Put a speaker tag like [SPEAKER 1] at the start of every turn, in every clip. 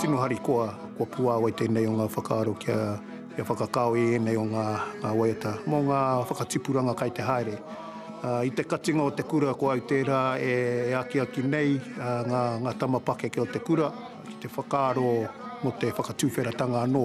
[SPEAKER 1] Tino harikoa, kua puāwai tēnei o ngā whakaaro kia whakakao i ēnei o ngā waiata mō ngā whakatipuranga kai te haere. I te katinga o te kura ko au tērā e akiaki nei ngā tama pakeke o te kura ki te whakaaro mō te whakatuwheratanga anō.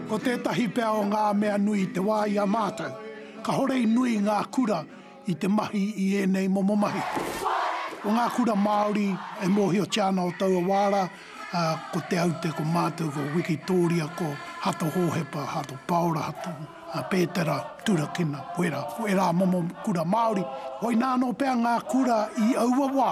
[SPEAKER 2] Ko tētahi pea o ngā mea nui i te wā i a mātou, kāore i nui ngā kura i te mahi i ēnei momo mahi. Ko ngā kura Māori e mōhiotia ana o taua wā rā, ko Te Aute, ko mātou, ko Wikitōria, ko Hato Hōhepa, Hato Paora, Hato Pētera, Turakina, wera, ko ērā momo kura Māori. Koinā anō pea ngā kura i aua wā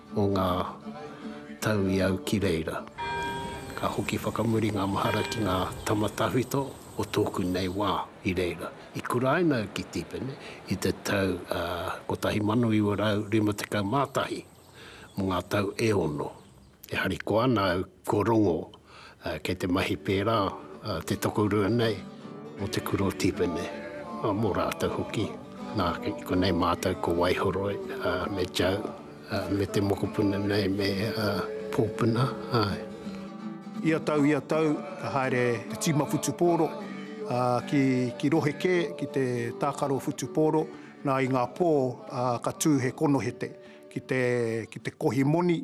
[SPEAKER 3] o ngā tau i au ki reira. Ka hoki whakamuri ngā mahara ki ngā tama tawhito o tōku nei wā i reira. I kuraina au ki Tipene i te tau 1951 mō ngā tau e ono. E harikoa ana au Ko Rongo, kei te mahi pērā, te tokorua nei, mō te kura o Tipene, mō rātou hoki. Nā, konei mātou ko Waihoroi me Joe, me te mokopuna nei me Pōpuna, āe.
[SPEAKER 1] Ia tau, ia tau, ka haere te tīma whutupōro ki rohe kē, ki te tākaro whutupōro, nā, i ngā pō ka tū he konohete ki te kohi moni.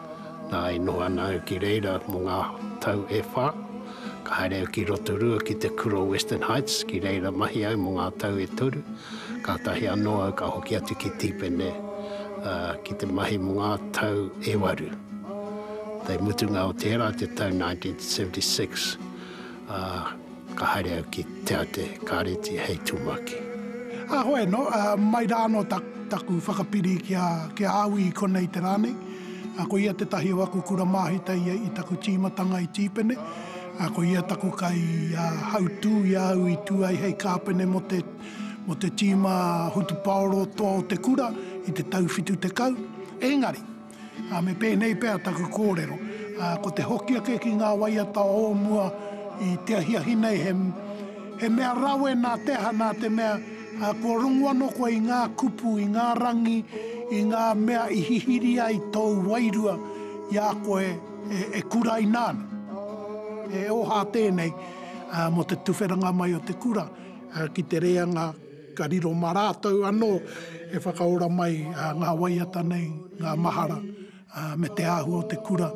[SPEAKER 3] Nā, i noho ana au ki reira mō ngā tau e whā. Ka haere au ki Rotorua ki te kura o Western Heights, ki reira mahi au mō ngā tau e toru. Kātahi anō au ka hoki atu ki Tīpene ki te mahi mō ngā tau e waru. Te mutunga o tērā te tau 1976. Ā, ka haere au ki Te Ate Kāreti hei tumuaki. Ā, hoe anō,
[SPEAKER 2] ā, mai rā anō taku whakapiri ki a, ki a Awi i konei te rā nei. Ā, ko ia tētahi o aku kura māhita ia i taku tīmatanga i Tīpene. Ā, ko ia taku kai, ā, hautū i a au i tū ai hei kāpene mō te, mō te tīma hutupaoro toa o te kura i te tau 70. Engari. Me pēnei pea taku kōrero, ko te hoki ake ki ngā waiata o mua i te ahiahi nei he mea rawe nā te aha, nā te mea kua rongu anō koe i ngā kupu, i ngā rangi, i ngā mea i hihiri ai tōu wairua i a koe e kuraina ana. He oha tēnei mō te tuwheranga mai o te kura ki te reanga. Ka riro mā rātou anō e whakaora mai ngā waiata nei, ngā mahara, me te āhua o te kura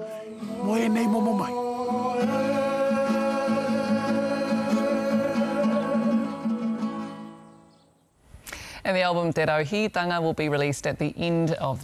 [SPEAKER 2] mō ēnei momo mahi.
[SPEAKER 4] And the album Te Rauhītanga will be released at the end of.